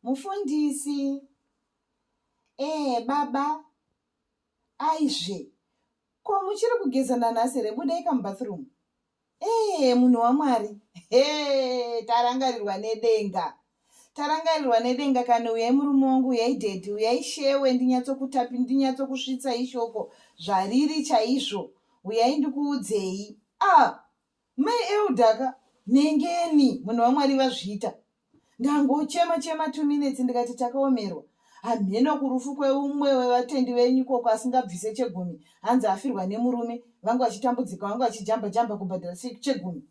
Mufundisi, Eh baba, aizve ko muchiri kugeza nanhasi here budaika mubathroom. Eh munhu waMwari, he tarangarirwa nedenga. Tarangarirwa nedenga kani uyai murume wangu uyai daddy uyai shewe ndinyatsokutapi ndinyatsokusvitsa ishoko zvariri chaizvo uyai ndikuudzei. Ah Mai Elder ka nhengeni munhu waMwari vazviita. Ndangochema chema two minutes ndikati takaomerwa. Hamheno kurufu kweumwe wevatendi venyu koko asingabvise chegumi hanzi afirwa nemurume vangu vachitambudzika vangu vachijamba jamba kubhadhara chegumi.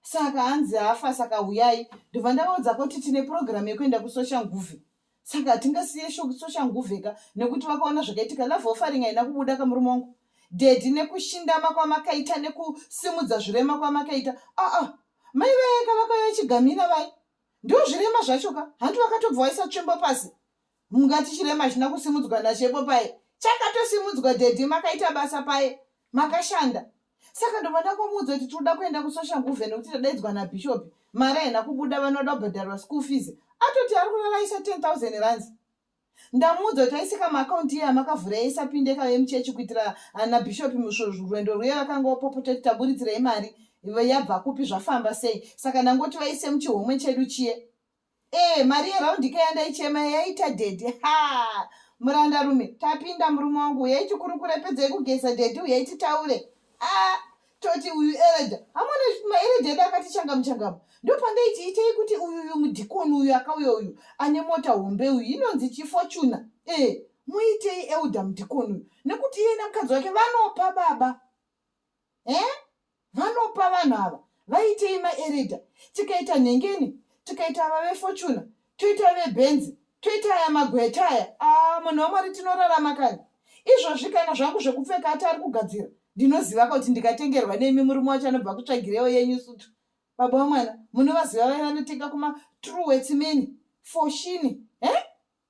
Saka hanzi afa saka huyai ndobva ndavaudza kuti tine program yekuenda kusocial nguvi saka hatingasiye soshanguvheka nekuti vakaona zvakaitika love offering haina kubuda kamurume wangu dedi nekushindama kwamakaita nekusimudza zvirema kwamakaita aa mai vayeka vakauya chigamina vai ndo zvirema zvacho ka hanti vakatobva waisa tsvimbo pasi mungati chirema china kusimudzwa nachepo paye chakatosimudzwa dedi makaita basa paye makashanda saka ndobva ndakomuudza kuti tinoda kuenda kusocial nguve nekuti tadaidzwa nabhishopi mari haina kubuda vanoda kubhadharwa school fees atoti ari kuraraisa 10000 runs ndamuudza kuti aisika maakaunti iye amakavhura yaisapinde kave muchechi kuitira ana bhishopi musvorwendo rwuye vakanga vapopota kuti taburitsirai mari yabva kupi zvafamba sei saka ndangoti vaise muchihomwe chedu chiye Eh, mari yeraundika yandaichema yaita daddy. Ha! Muranda rume, tapinda murume wangu uyai tikurukure pedzai kugeza daddy uyai titaure. Ah, toti uyu Ereja. Hamuna maereja edu akati changamu changamu. Ndopandaiti itai kuti uyu uyu mudhikoni uyu akauya uyu ane mota hombe uyu inonzi Chifortuna. Eh, muitei elder mudhikoni uyu nekuti iye nemukadzi wake vanopa baba. eh? vanopa vanhu ava vaitei maerida tikaita nhengeni tikaita ava vefortuna toita vebenzi toita aya magweta aya ah, munhu wamwari tinorarama kani izvozvi kana zvangu zvekupfeka ati ari kugadzira ndinoziva kuti ndikatengerwa nemi murume wacho anobva kutsvagirewo yenyu sutu baba wamwana munovaziva vaya vanotenga kumatrue wetsimeni foshini he eh?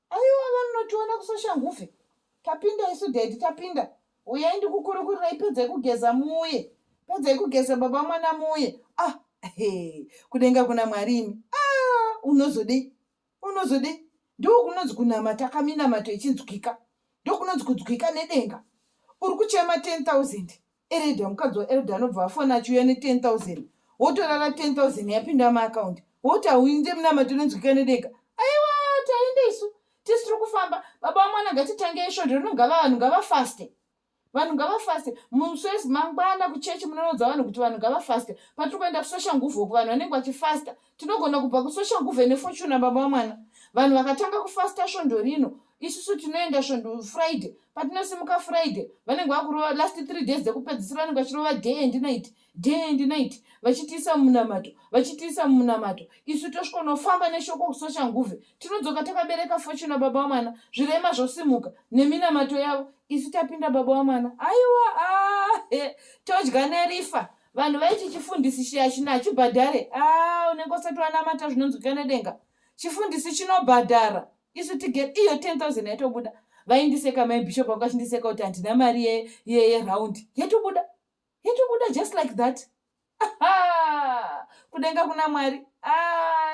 Aiwa vanotiona kusosha nguve. Tapinda isu daddy tapinda. Uyai ndikukurukurirei pedzai kugeza muye. Pedzai kugeza baba mwana muye. Ah, he, kudenga kuna Mwari imi. Ah, unozodei? Unozodei? Ndiko kunonzi kunamata kaminamato ichinzwika. Ndiko kunonzi kunzwika nedenga. Uri kuchema 10,000. Erida mukadzi waElda anobva afona achiuya ne 10000 wotorara 10000 yapinda maakaundi woti hauinde munamato inonzwika nedega aiwa tainde isu tisi tiri kufamba baba wamwana ngatitange isvondo rino ngava vanhu ngavafaste vanhu ngavafaste muswezi mangwana kuchechi munorodza vanhu kuti vanhu ngavafaste patiri kuenda kusosha nguvhoku vanhu vanenge vachifasta tinogona kubva kusocial guve nefortuna baba vamwana vanhu vakatanga kufasta svondo rino isusu tinoenda svondo friday patinosimuka friday vanenge vakurova last three days dzekupedzisira vanenge vachirova day and night day and night vachitiisa mumunamato vachitiisa mumunamato isu tosvikonofamba neshoko kusocial nguve tinodzoka takabereka fortuna baba vamwana zvirema zvosimuka neminamato yavo isu tapinda baba vamwana aiwa ahe ah, todya nerifa Vanhu vaiti chifundisi chiya chino hachibhadhare. Haa unenge usati wanamata zvinonzwika nedenga. Chifundisi chinobhadhara. Isu tigere iyo 10000 yatobuda. Vaindiseka mai bishop vanga vachindiseka kuti handina mari ye- ye- yeround. Yatobuda. Yatobuda just like that. Aha! Kudenga kuna Mwari. Haa